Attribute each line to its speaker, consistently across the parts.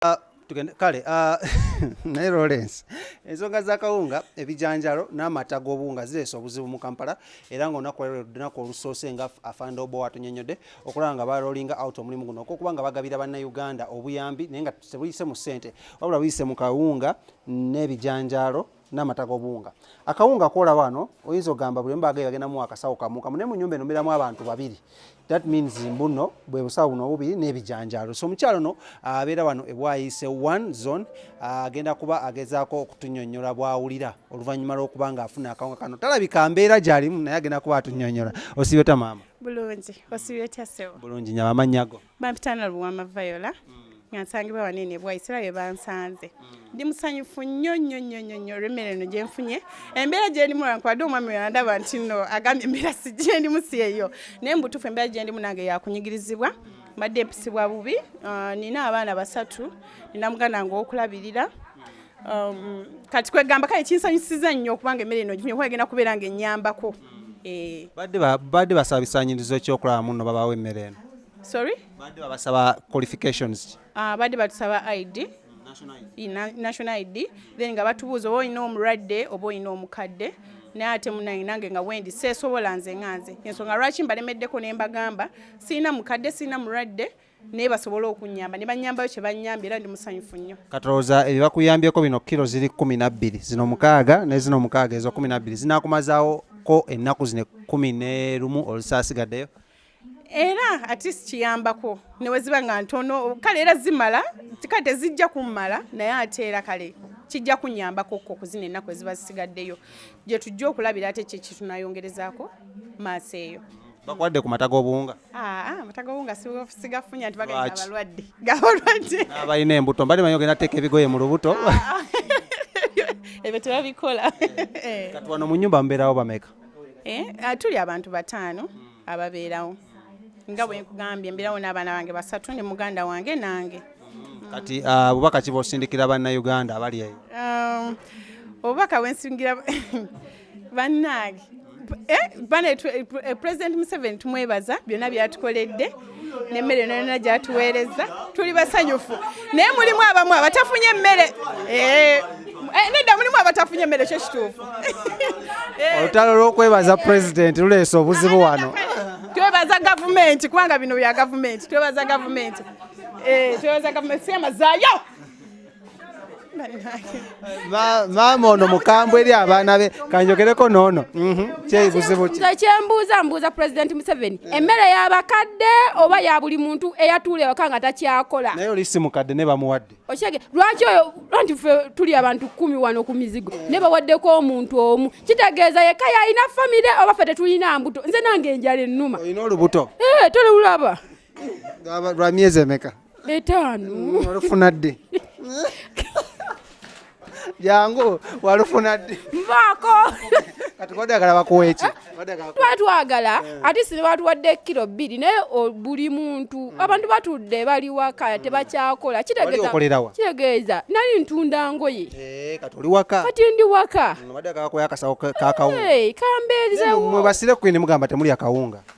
Speaker 1: ah, tugende kale ah, naye lawrence ensonga zakawunga ebijanjalo n'amata g'obuwunga zireesa obuzibu mu kampala era ngaolunaku lunaku olusoose nga afanda oba watunyonyodde okulaba nga balolinga out omulimu guno okwokuba nga bagabira bannayuganda obuyambi naye nga tebuyise mu ssente wabula buyise mu kawunga n'ebijanjalo n'amata g'obuwunga akawunga kola wano oyinza ogamba buli mbaga bagenda mu akasawo kamu kamu naye mu nyumba eno mbeeramu abantu babiri that means mbuno bwe busawo buno obubiri n'ebijanjaalo so omukyalo no abeera wano ebwayise one zone agenda kuba agezaako okutunyonyola bwawulira oluvannyuma lw'okuba nga afuna akawunga kano talabika mbeera gyalimu naye agenda kuba atunyonyola osibe ta maama bulungi osibe
Speaker 2: ta sebo bulungi nyama amannya go
Speaker 1: bampitana luwama
Speaker 2: viola nga nsangibwa wanene bwaisira bye bansanze ndi musanyufu nnyo nnyo nnyo nnyo nnyo olw'emmere eno gye nfunye embeera gye ndimu lwankwade omwami we yandaba nti no agambye embeera si gye ndimu si eyo naye mu butuufu embeera gye ndimu nange yakunyigirizibwa mbadde mpisibwa bubi ah, nina abaana basatu nina muganda nga okulabirira Um, kati kwegamba kale kinsanyusiza nnyo okubanga emmere eno gifunye kuba egenda kubeera nga ennyambako eh.
Speaker 1: badde basaba bisaanyirizo ekyokulaba muno babawo emmere eno sorry badde
Speaker 2: babasaba
Speaker 1: qualifications ah, badde batusaba
Speaker 2: id national id then nga batubuuza oba olina omulwadde oba olina omukadde naye ate munange nange nga wendi seesobola nze nga nze ensonga lwaki mbalemeddeko ne mbagamba sirina mukadde sirina mulwadde naye basobole okunyamba ne banyambayo kye banyambye era ndi musanyufu nnyo katolooza ebyo bakuyambyeko bino
Speaker 1: kiro ziri kumi nabbiri zino mukaaga ne zino mukaaga ezo kumi nabbiri zinakumazaawo ko ennaku zino kumi ne lumu olusaasigaddeyo era
Speaker 2: atist kiyambako neweziba nga ntono kale era zimala kale tezijja kummala naye ate era kale kijja kunyambako ko kuzina ennaku eziba zisigaddeyo gye tujja okulabira ate kyekitunayongerezaako maaso eyo bakuwadde ku mata
Speaker 1: g'obuwunga Ah, ah, amata
Speaker 2: g'obuwunga sigafunya nti bagenda abalwadde gabalwadde abalina embuto mbadde
Speaker 1: manyi ogenda teeka ebigoye mu lubuto ah, ebyo
Speaker 2: tebabikola eh. kati wano
Speaker 1: mu nyumba mubeerawo bameka eh, tuli
Speaker 2: abantu bataano ababeerawo nga bwe nkugambye mbeerawo n'abaana bange basatu ne muganda wange nange mm, kati
Speaker 1: bubaka ki bwosindikira banna uganda abali eyo um,
Speaker 2: obubaka bwensingira bannange eh, bana eh, president museveni tumwebaza byonna byatukoledde nemmere yona yona gyatuweereza tuli basanyufu naye mulimu abamu abatafunye emmere eh, nedda mulimu abatafunye emmere kyo kituufu
Speaker 1: olutalo lw'okwebaza president luleese obuzibu wano twebaza
Speaker 2: gavumenti kubanga bino bya gavumenti twebaza gavumenti twebaza gavumenti siyamazayo
Speaker 1: maama ono mukambwe eri abaana be kanjogereko noono mhm. kyebuzibu nze kyembuuza mbuuza
Speaker 3: pulezidenti museveni mm. emmere yabakadde oba ya buli muntu eyatuula ewaka nga takyakola naye oli si mukadde ne
Speaker 1: bamuwadde okyege lwaki oyo
Speaker 3: anti fe tuli abantu kumi wano ku mizigo mm. ne bawaddeko omuntu omu kitegeeza yekka yalina famire oba fe tetulina mbuto nze nange enjala ennuma olina olubuto eh,
Speaker 1: tolulaba lwa myezi emeka etaano mm,
Speaker 3: olufuna ddi
Speaker 1: jangu walufuna ddi nvaako
Speaker 3: kati
Speaker 1: wadagala bakuweeki tuba twagala
Speaker 3: eh. ate si nebatuwadde kiro bbiri naye buli muntu hmm. abantu batudde bali waka hmm. tebakyakola kitegeeza nali ntunda ngoye eh, kati oli waka kati
Speaker 1: ndi waka hmm, kambeezewo
Speaker 3: basire kwini mugamba
Speaker 1: temuli akawunga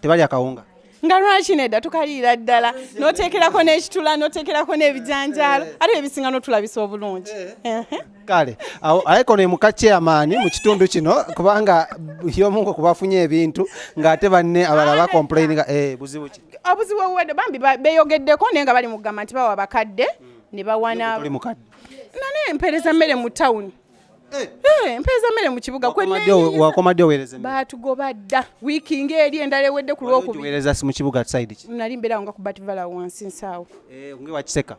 Speaker 1: tebalya kawunga nga lwaki nedda
Speaker 2: tukaliira ddala noteekerako n'ekitula noteekerako n'ebijanjaalo eh. ate ebisinga notulabisa obulungi eh. kale
Speaker 1: aleka ono emuka chairman mu kitundu kino kubanga yomunga kubafunye ebintu ng'ate banne abala bakomplaininga eh, buzibu ki obuzibu obuwedde bambi
Speaker 2: beyogeddeko naye nga bali mugamba nti bawa bakadde ne bawana nane
Speaker 1: mpeereza
Speaker 2: mmere mu tawuni Eh. Eh, mpeeza mmere mu kibuga wakomadde
Speaker 1: oweereza baatugoba dda
Speaker 2: wiiki ng'eri endala ewedde ku lwokubiweereza mu kibuga side
Speaker 1: ki nali mbeerawo nga ku bativala
Speaker 2: wansi nsaawo eh, nge wakiseka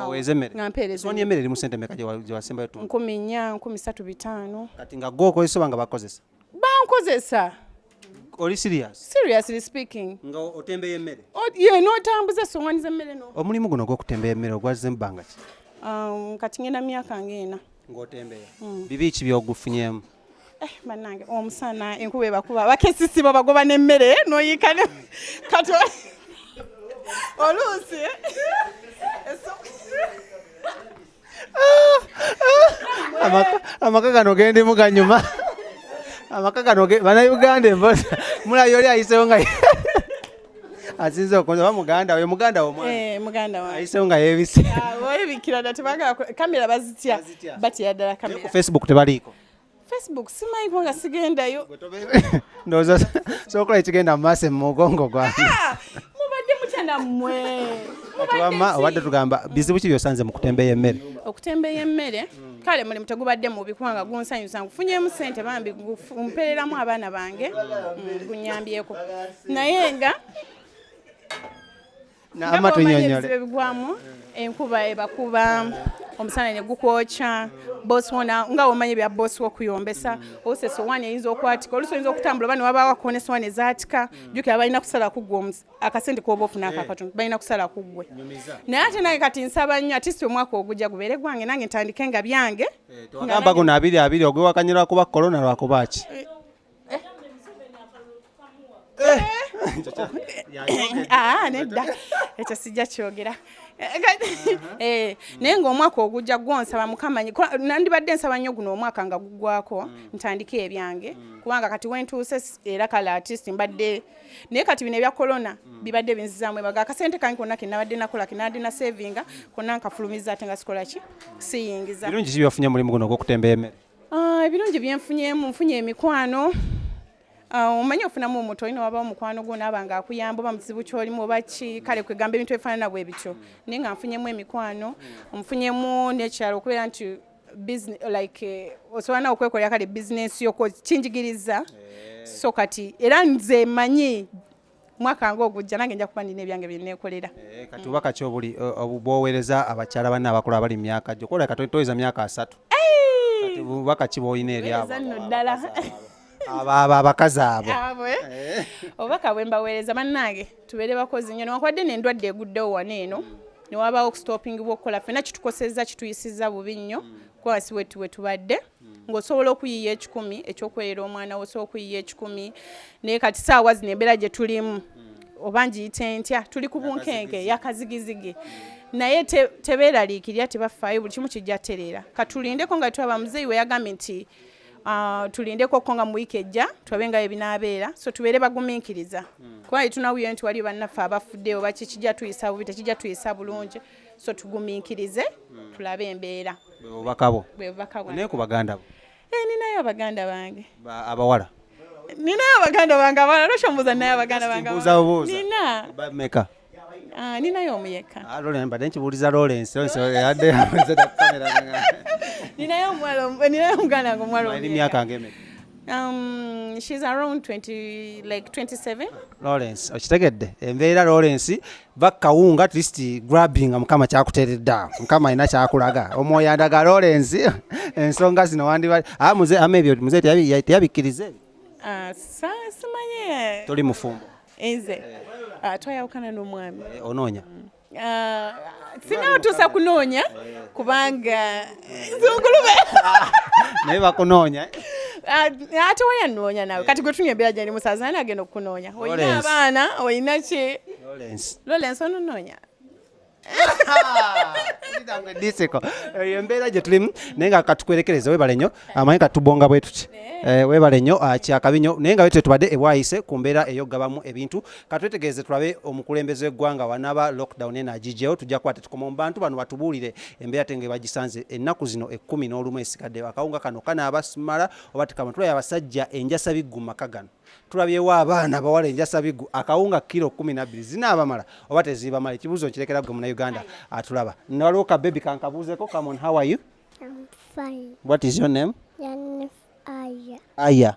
Speaker 1: oweereza emmere nga mpeereza onya emmere eri mu
Speaker 2: sente meka gye
Speaker 1: wasembayo tu nkumi nnya nkumi satu
Speaker 2: bitaano kati nga gwe okozesa
Speaker 1: oba nga bakozesa bankozesa
Speaker 2: oli
Speaker 1: serious seriously speaking
Speaker 2: nga otembeya emmere
Speaker 1: ye n'otambuza
Speaker 2: essoŋwani z'emmere no omulimu guno ogw'okutembeya
Speaker 1: emmere ogwazze mu bbanga ki um, kati ngenda
Speaker 2: mu myaka ng'ena ng'otembeya hmm.
Speaker 1: bibi ki byogufunyemu Eh, banange
Speaker 2: omusana enkuba ebakuba bakesisi babagoba n'emmere noyiika ne kati oluusi
Speaker 1: amaka gano gendimu ganyuma amaka gano banauganda embozi mulayi oli ayisewo nga asinze okunza oba muganda we muganda
Speaker 2: womwanayisewo eh, nga yebise ah, ku facebook tebaliiko
Speaker 1: Facebook simanyi
Speaker 2: kubanga sigendayo. Ndowooza
Speaker 1: sokola ekigenda mu maaso mu mugongo gwange. Ah, mubadde
Speaker 2: mutya nammwe. Wamma
Speaker 1: obadde tugamba bizibu ki byosanze mu kutembeya emmere? Okutembeya emmere
Speaker 2: kale mulimu tegubadde mubi kubanga gunsanyusa ngufunyemu ssente bambi mpereramu abaana bange mm, gunyambyeko naye nga namatunnyonnyole bigwamu enkuba ebakuba omusana ne gukwokya bosi wona nga womanya ebya bosi wokuyombesa ose sowani eyinza okwatika olusi oyinza okutambula oba newabawako ne sowani ezatika jukira balina kusala kuggwe akasente koba ofuna eh. akakatundu balina kusala kuggwe naye ate nange kati nsaba nnyo atisi omwaka ogujja gubeere gwange nange ntandike nga byange eh, gamba guno
Speaker 1: abiri abiri ogwewakanyira kuba korona lwakuba ki eh,
Speaker 2: Ah, nedda ekyo sijja kyogera eh, naye ngaomwaka ogujja gwonsaba mukamanyi nandibadde nsaba nnyo guno omwaka nga gugwako mm. ntandike ebyange mm. kubanga kati wentuuse era kale artist mbadde naye kati bino ebya corona mm. bibadde binzizamu ebaga akasente kange konna kenabadde nakola kenabadde na savinga konna nkafulumiza ate nga sikola ki siyingiza birungi kibiwafunya mulimu
Speaker 1: guno ogwokutemba emere Ah, ebirungi
Speaker 2: byenfunyemu nfunye emikwano ah, omanyi ofunamu omuntu olina waba omukwano gwo naaba nga akuyamba oba mukizibu kyolimu oba ki kale kwegamba ebintu ebifaanana bwe bityo naye nga nfunyemu emikwano nfunyemu nekirala okubeera nti like eh, osobola nawe okwekolera kale bizinesi yo kinjigiriza eh. so kati era nze manyi mwaka nga ogujja nange nja kuba nina ebyange byenekolera eh, kati oba kaki
Speaker 1: obuli bwowereza abakyala banne abakulu abali mu myaka gyo kola kati toyeza myaka asatu oba kaki bwolina eryabanno ddala abo abakazi abo eh.
Speaker 2: obubaka bwe mbaweereza bannange tubeere bakozi nyo newankubadde nendwadde eguddewo wano eno mm. newabaawo okusitopingibwa okukola fena kitukosezza kituyisizza bubi nnyo mm. kuba wasi wetuwe tubadde hmm. ng'osobola okuyiiya ekikumi ekyokweyera omwana wo osobola okuyiiya ekikumi naye kati saawa zino embeera gye tulimu hmm. oba ngiyite ntya tuli ku bunkenke yakazigizigi naye tebeeraliikirira tebafaayo buli kimu kijja tereera katulindeko nga twaba muzeeyi we yagambye nti Ah, tulindeko ko nga mu wiiki ejja tulabe nga ebinaabeera so tubeere bagumiikiriza hmm. kuba yetunawuyo nti waliyo bannaffe abafuddeyo bakikijja tuyisa bubi tekijja tuyisa bulungi so tugumiikirize hmm. tulabe embeera bwebubakabo bwebubakabo naye ku baganda bo
Speaker 1: eh, ninayo abaganda
Speaker 2: bange abawala
Speaker 1: ninayo
Speaker 2: abaganda bange abawala lwaki mbuuza ninayo abaganda bange nina meka
Speaker 1: ah, ninayo
Speaker 2: omu yekka ah, mbadde nkibuuliza
Speaker 1: lorensi yadde
Speaker 2: ninayo omwana ninayo omuganda wange omwala emyaka ngemeka
Speaker 1: Um,
Speaker 2: she's around 20, like 27. Lawrence,
Speaker 1: okitegedde embeera Lawrence bakawunga at least grabbing mukama kyakuteredde awo mukama alina kyakulaga omwoyo andaga Lawrence ensonga zino wandiba ah, muze ama ebyo muze teyabikkiriza ebyo ah, simanye
Speaker 2: toli mufumbo
Speaker 1: nze
Speaker 2: ah, twayawukana n'omwami eh, onoonya mm.
Speaker 1: Ah, singa
Speaker 2: otuusa kunoonya kubanga zungulube
Speaker 1: naye bakunoonya ah,
Speaker 2: ate wayanoonya nawe kati gwe tunywa embeera gyali musaza ani agenda okukunoonya olina abaana olina ki lorensi ononoonya
Speaker 1: eyo embeera gye tulimu naye nga katukwerekereza webale nnyo amanyi katubonga bwe tuti eh, webale nnyo ah, kyakabi nnyo naye nga wetwe tubadde ebwayise ku mbeera eyokugabamu ebintu katwetegereze tulabe omukulembeze w'eggwanga wanaba lockdown eno agigyewo tujja kuba tetukoma mu bantu bano batubuulire embeera tenge bagisanze ennaku zino ekkumi n'olumu esigaddeyo akawunga kano kanaaba simala oba tekama tulabye abasajja enjasa biggu mu maka gano tulabyewo abaana bawala enjasa biggu akawunga kiro kkumi nabbiri zinaabamala oba teziibamala ekibuuzo nkirekera gwe munauganda atulaba nawaliwo ka bebi kankabuuzeko kamon how are you I'm
Speaker 4: fine. what is your name aya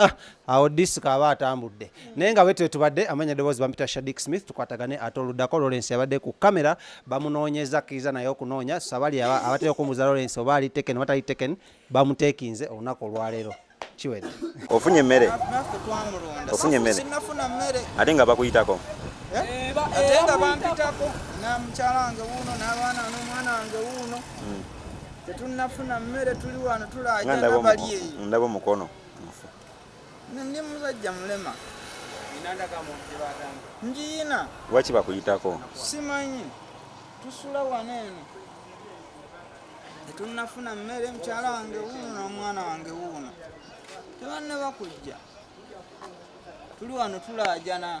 Speaker 1: Ah, awo disika aba atambudde naye nga wetwe tubadde amanya eddoboozi bampita shadik smith tukwatagane ate oluddako lawrence yabadde ku kamera bamunoonyeza akkiriza naye okunoonya sabali abatera okumuza lawrence oba ali teken oba tali teken bamutekinze olunaku olwaleero kiwedde ofunye emmere
Speaker 5: ofunye emmere
Speaker 6: ate
Speaker 5: nga bakuyitako
Speaker 6: eh? ate
Speaker 5: nga bampitako namukyala wange wuuno n'abaana n'omwana wange wuuno hmm. tetunnafuna mmere tuli wano tulaajana bali eyo ndaba omukono
Speaker 6: mufu
Speaker 5: ndi musajja mulema njiyina lwaki bakuyitako
Speaker 6: simanyi
Speaker 5: tusula wano eno tetunnafuna mmere mukyala wange wuuno n'omwana wange wuuno tebanne bakujja tuli wano tulaajana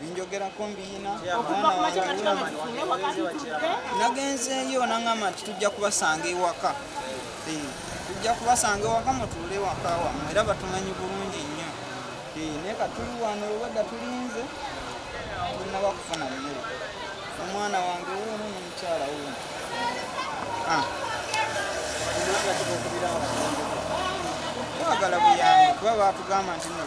Speaker 5: binjogerako mbiyina nagenzeeyo nangamba nti tujja kubasanga ewaka eh, tujja kubasanga ewaka mutuule ewaka wamwe era batumanyi bulungi nnyo eh, naye katuli wano obwedda tulinze tunaba kufuna mmere omwana wange wuuno nomukyala wuuno ah. twagala buyambi kuba batugamba nti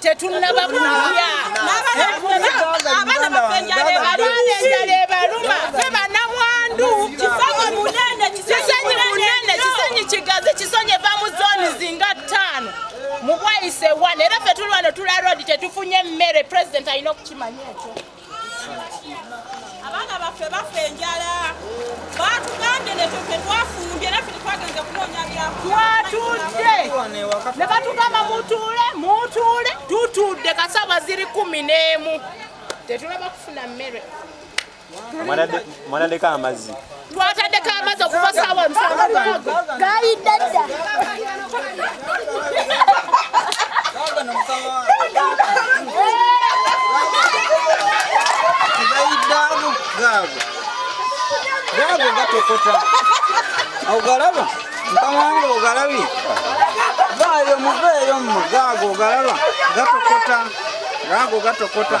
Speaker 6: tetunnaba
Speaker 2: kulya abaana baffe enjala ebaluma fe banamwandu kisanyi munene kisanyi kigazi kisonyi eva mu zooni zinga ttaano mu bwayise wana era fe tuli wano tula rodi tetufunye mmere pulezidenti alina okukimanya ekyo
Speaker 7: abaana baffe bafa enjala batugambye nekyo tetwafumbye naffe tetwagenze kunoonya byatwatudde
Speaker 2: ne batugamba mutuule mutuule tutudde kasaba ziri kumi n'emu tetulaba kufuna mmere
Speaker 6: mwanadeka amazi twatandeka amazi
Speaker 2: okuva saawa musanvu
Speaker 4: gayidde
Speaker 5: dda gayiddamu gaago gaago gatokota ogalaba mukama wange ogalabi vaayo muveeyo mmu gaago ogalaba gatokota gaago gatokota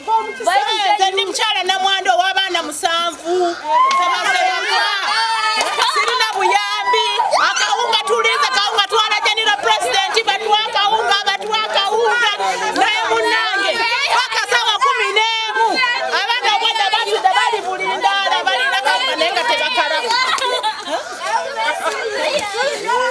Speaker 2: nze ndi
Speaker 6: mukyala
Speaker 2: namwanda ow'abaana musanvu sirina buyambi akawunga tulinze kawunga twalajanira pulezidenti batuwa akawunga abatuwa akawunga naye munange bakasawa kumi n'emu abaana obwada batuda bali bulindaala balina kawunga naye nga tebakalaba